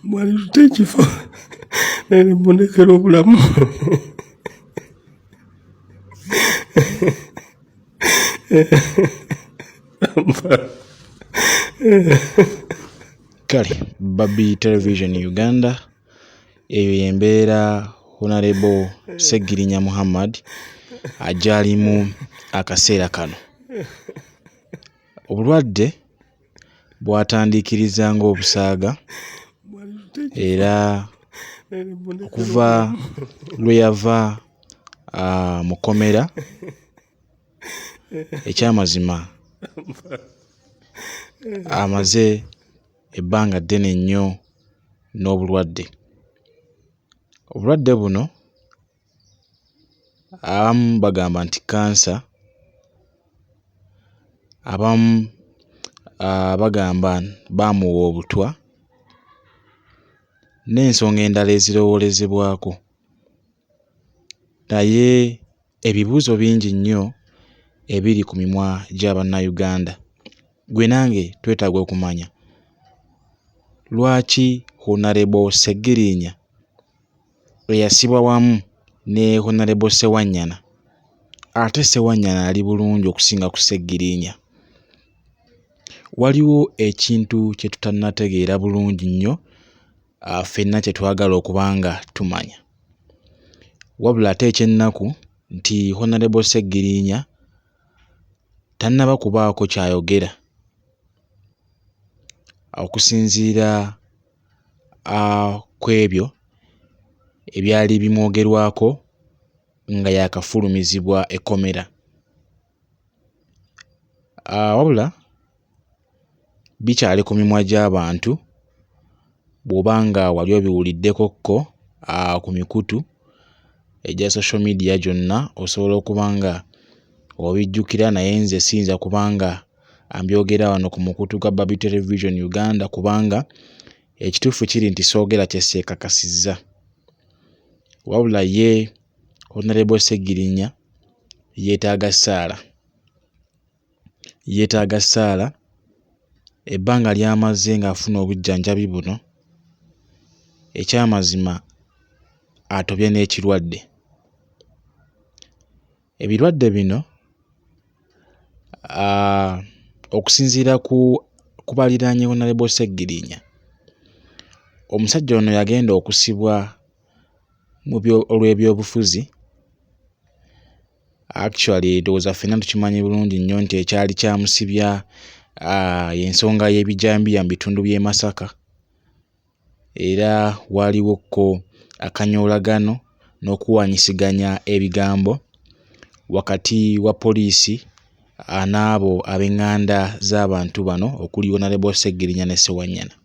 mwali tute ekifo nene mbonekera obulamu kale babi television uganda eyo yembeera honarebo segirinya muhammad ajalimu akaseera kano obulwadde bwatandiikiriza ng'obusaaga era okuva lwe yava mu kkomera ekyamazima amaze ebbanga ddene nnyo n'obulwadde. Obulwadde buno Abamu bagamba nti kkansa, abamu bagamba baamuwa obutwa n'ensonga endala ezirowoozebwako naye ebibuuzo bingi nnyo ebiri ku mimwa gya Bannayuganda. Ggwe nange twetaaga okumanya lwaki Hon. Ssegirinya eyasibwa wamu ne Honalebo Sewanyana ate Sewanyana ali bulungi okusinga ku Ssegirinya. Waliwo ekintu kye tutannategeera bulungi nnyo ah, ffenna kye twagala okuba nga tumanya. Wabula ate eky'ennaku nti Honalebo Ssegirinya tannaba kubaako ky'ayogera okusinziira ku ebyo ebyali bimwogerwako nga yaakafulumizibwa ekkomera. Wabula bikyali ku mimwa gy'abantu bw'oba nga wali obiwuliddeko ko ku mikutu egya social media gyonna osobola okuba nga obijjukira naye nze siyinza kuba nga ambyogera wano ku mukutu gwa Babi Television Uganda kubanga ekituufu kiri nti soogera kye seekakasizza wabula ye Honorable Ssegirinya yeetaaga ssaala yeetaaga ssaala ebbanga ly'amaze ng'afuna obujjanjabi buno ekyamazima atobye n'ekirwadde. Ebirwadde bino uh, okusinziira ku kubaliraanye Honorable Ssegirinya omusajja ono yagenda okusibwa mu olw'ebyobufuzi actually ndowooza ffenna tukimanyi bulungi nnyo nti ekyali kyamusibya uh, y'ensonga y'ebijambiya mu bitundu by'e Masaka era waaliwo ko akanyoolagano n'okuwanyisiganya ebigambo wakati wa poliisi n'abo ab'enganda z'abantu bano okuli Honorable Ssegirinya ne Ssewanyana.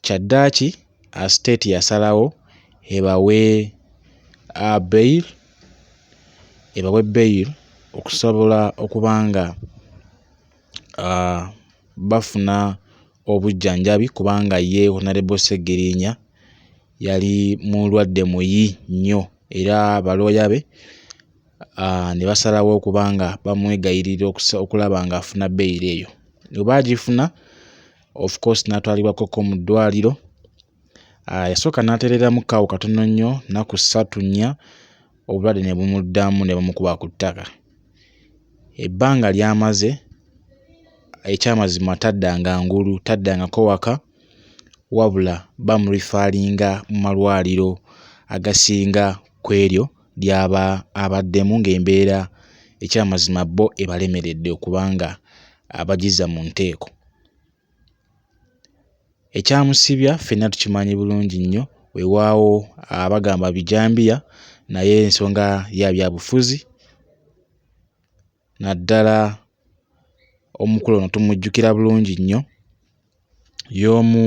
Kyaddaaki state yasalawo ebawe bail ebawe bail okusobola okuba nga bafuna obujjanjabi kubanga ye Honorable Ssegirinya yali mulwadde muyi nnyo era balooya be ah, ne basalawo okuba nga bamwegayirira okulaba ng'afuna beyiro eyo oba agifuna of course n'atwalibwa koko mu ddwaliro ah, yasooka n'atereeramu kaawo katono nnyo nnaku ssatu nnya obulwadde ne bumuddamu ne bumukuba ku ttaka ebbanga ly'amaze ekyamazima taddanga ngulu taddangako waka wabula bamurifaalinga mu malwaliro agasinga ku eryo ly'aba abaddemu ng'embeera ekyamazima bo ebalemeredde okubanga abagizza mu nteeko. Ekyamusibya ffenna tukimanyi bulungi nnyo wewaawo abagamba bijambiya naye ensonga ya byabufuzi naddala omukulu ono tumujjukira bulungi nnyo y'omu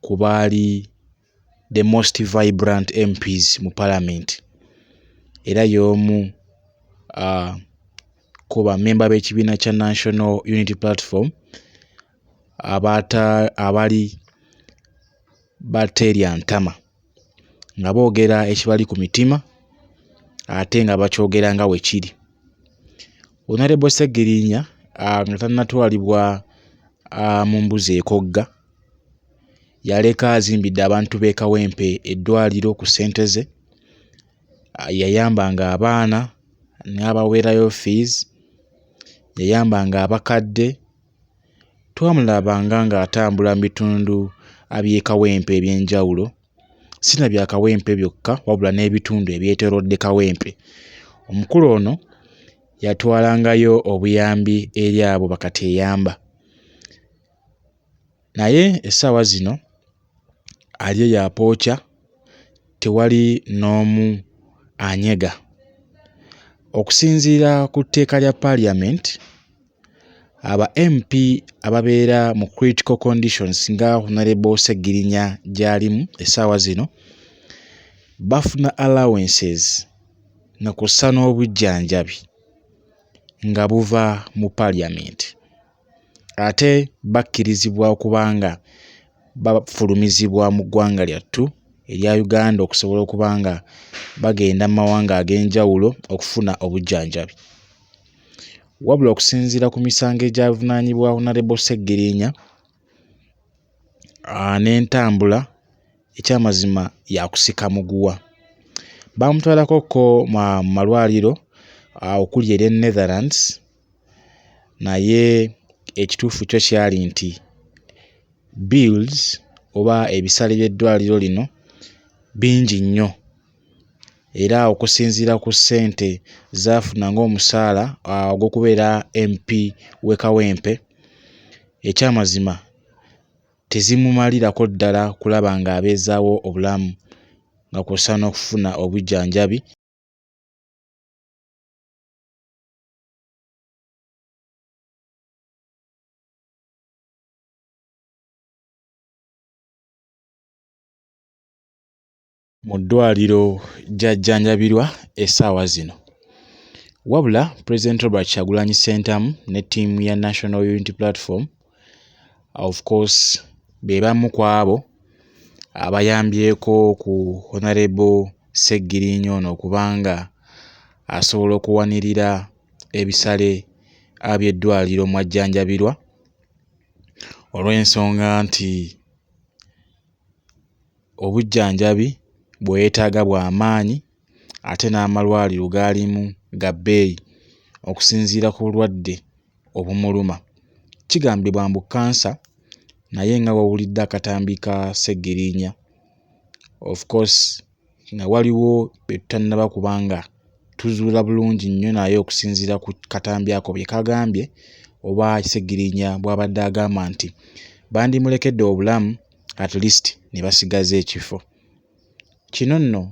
ku baali the most vibrant MPs mu parliament era y'omu uh, ku bamemba b'ekibiina kya National Unity Platform abaata abali bateerya ntama nga boogera ekibali ku mitima ate nga bakyogera nga we kiri onarebo ssegirinya nga tannatwalibwa mu mbuzi ekogga yaleka azimbidde abantu b'e Kawempe eddwaliro ku ssente ze, yayambanga abaana n'abaweerayo fiizi, yayambanga abakadde, twamulabanga ng'atambula mu bitundu by'e Kawempe eby'enjawulo, si na bya Kawempe byokka wabula n'ebitundu ebyetoolodde Kawempe. Omukulu ono yatwalangayo obuyambi eri abo ba kateyamba. Naye essaawa zino ali eyo apookya tewali n'omu anyega. Okusinziira ku tteeka lya parliament, aba MP ababeera mu critical conditions nga Honorable Ssegirinya gy'alimu essaawa zino bafuna allowances nga kw'ossa n'obujjanjabi nga buva mu parliament. ate bakkirizibwa okuba nga bafulumizibwa mu ggwanga lyattu erya Uganda okusobola okuba nga bagenda mu mawanga ag'enjawulo okufuna obujjanjabi. Wabula okusinziira ku misango egyavunaanyibwa Honorable Ssegiriinya n'entambula ekyamazima yakusika muguwa. Baamutwalako ko mu malwaliro okuli erya Netherlands naye ekituufu kyo kyali nti bills oba ebisale by'eddwaliro lino bingi nnyo era okusinziira ku ssente z'afuna ng'omusaala ogw'okubeera MP w'e Kawempe, ekyamazima tezimumalirako ddala kulaba ng'abeezaawo obulamu nga kw'ossa n'okufuna obujjanjabi. mu ddwaliro gy'ajjanjabirwa essaawa zino. Wabula Pulezidenti Robert Kyagulanyi Ssentamu ne ttiimu ya National Unity Platform of course be bamu ku abo abayambyeko ku honarebo Ssegirinya ono okuba nga asobola okuwanirira ebisale by'eddwaliro mw'ajjanjabirwa olw'ensonga nti obujjanjabi bwe yeetaaga bwa maanyi ate n'amalwaliro g'alimu ga bbeeyi okusinziira ku bulwadde. obumuluma. Kigambibwa mbu kkansa naye nga wawulidde akatambi ka Ssegirinya of course nga waliwo be tutannaba kuba nga tuzuula bulungi nnyo naye okusinziira ku katambi ako bye kagambye oba Ssegirinya bw'abadde agamba nti bandimulekedde obulamu at least ne basigaza ekifo. Kino nno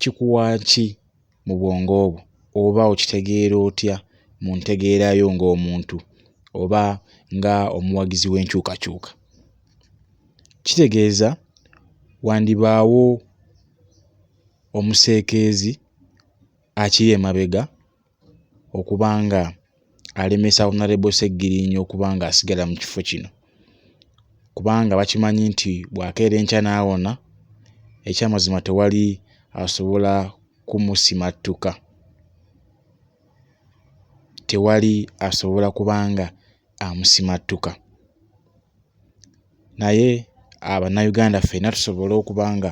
kikuwa ki mu bwongo bwo oba okitegeera otya mu ntegeera yo ng'omuntu oba nga omuwagizi w'enkyukakyuka? Kitegeeza wandibaawo omuseekeezi akiri emabega. okuba nga alemesa Honorable Ssegirinya okuba nga asigala mu kifo kino kubanga bakimanyi nti bw'akeera enkya n'awona ekyamazima tewali asobola kumusimattuka, tewali asobola kuba nga amusimattuka naye a bannayuganda ffena tusobole okuba nga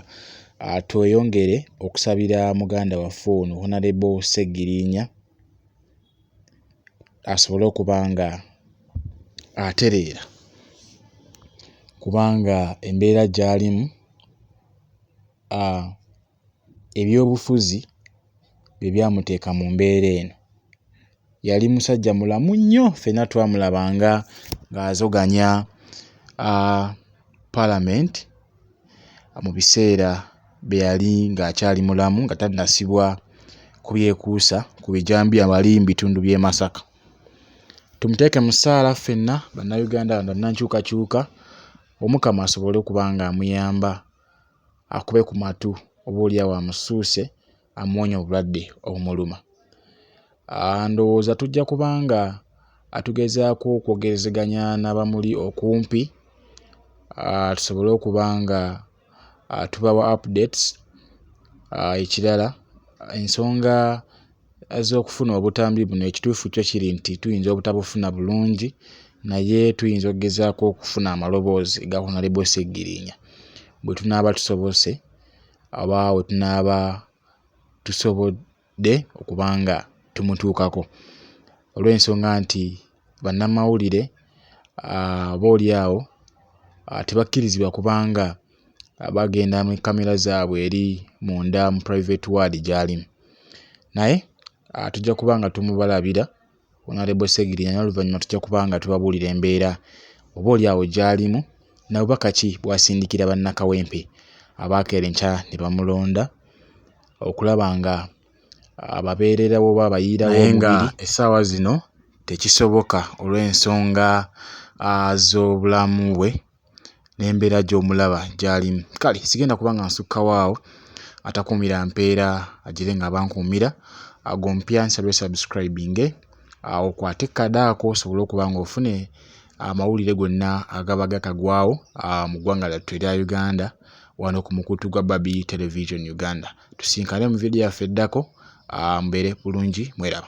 tweyongere okusabira muganda waffe ono honalebo ssegirinya asobole okuba nga atereera kubanga embeera gyalimu a ebyobufuzi bye byamuteeka mu mbeera eno. Yali musajja mulamu nnyo ffenna twamulabanga ng'azoganya palamenti mu biseera bye yali ng'akyali mulamu nga tannasibwa ku byekuusa ku bijambiya wali mu bitundu by'e Masaka. Tumuteeke mu ssaala ffenna Bannayuganda, bannankyukakyuka Omukama asobole okuba ng'amuyamba. akube ku matu oba olyawo amusuuse amuwonye obulwadde obumuluma. Aah ndowooza tujja kuba nga tugezaako okwogerezeganya n'abamuli okumpi aah tusobole okuba nga tubawa updates. Aah ekirala ensonga azze okufuna obutambi buno ekituufu kyo kiri nti tuyinza obutabufuna bulungi naye tuyinza okugezaako okufuna amaloboozi ga honalebo seggirinya bwe tunaaba tusobose aba we tunaaba tusobodde okubanga tumutuukako olw'ensonga nti bannamawulire oba oli awo tebakkirizibwa kuba nga bagenda ne kkamera zaabwe eri munda mu private ward gy'alimu naye tujja kuba nga tumubalabira Honourable Ssegirinya naye oluvannyuma tujja kuba nga tubabuulira embeera oboolyawo gy'alimu na bubaka ki bw'asindikira bannakawempe abaakera enkya ne bamulonda okulaba nga ababeererawo oba abayiirawo naye nga essaawa zino tekisoboka olw'ensonga z'obulamu bwe n'embeera gy'omulaba gy'alimu. Kale sigenda kuba nga nsukkawo awo, atakuumira mpeera agire ng'aba ankuumira. Ggwe omupya nsaba osabisikulabinge, okwate ku kadaako osobole okuba ng'ofuna amawulire gonna agaba gatagwawo mu ggwanga lyattu erya Uganda wano ku mukutu gwa Babi Television Uganda. Tusinkane mu vidiyo yaffe eddako, mbeere bulungi mweraba.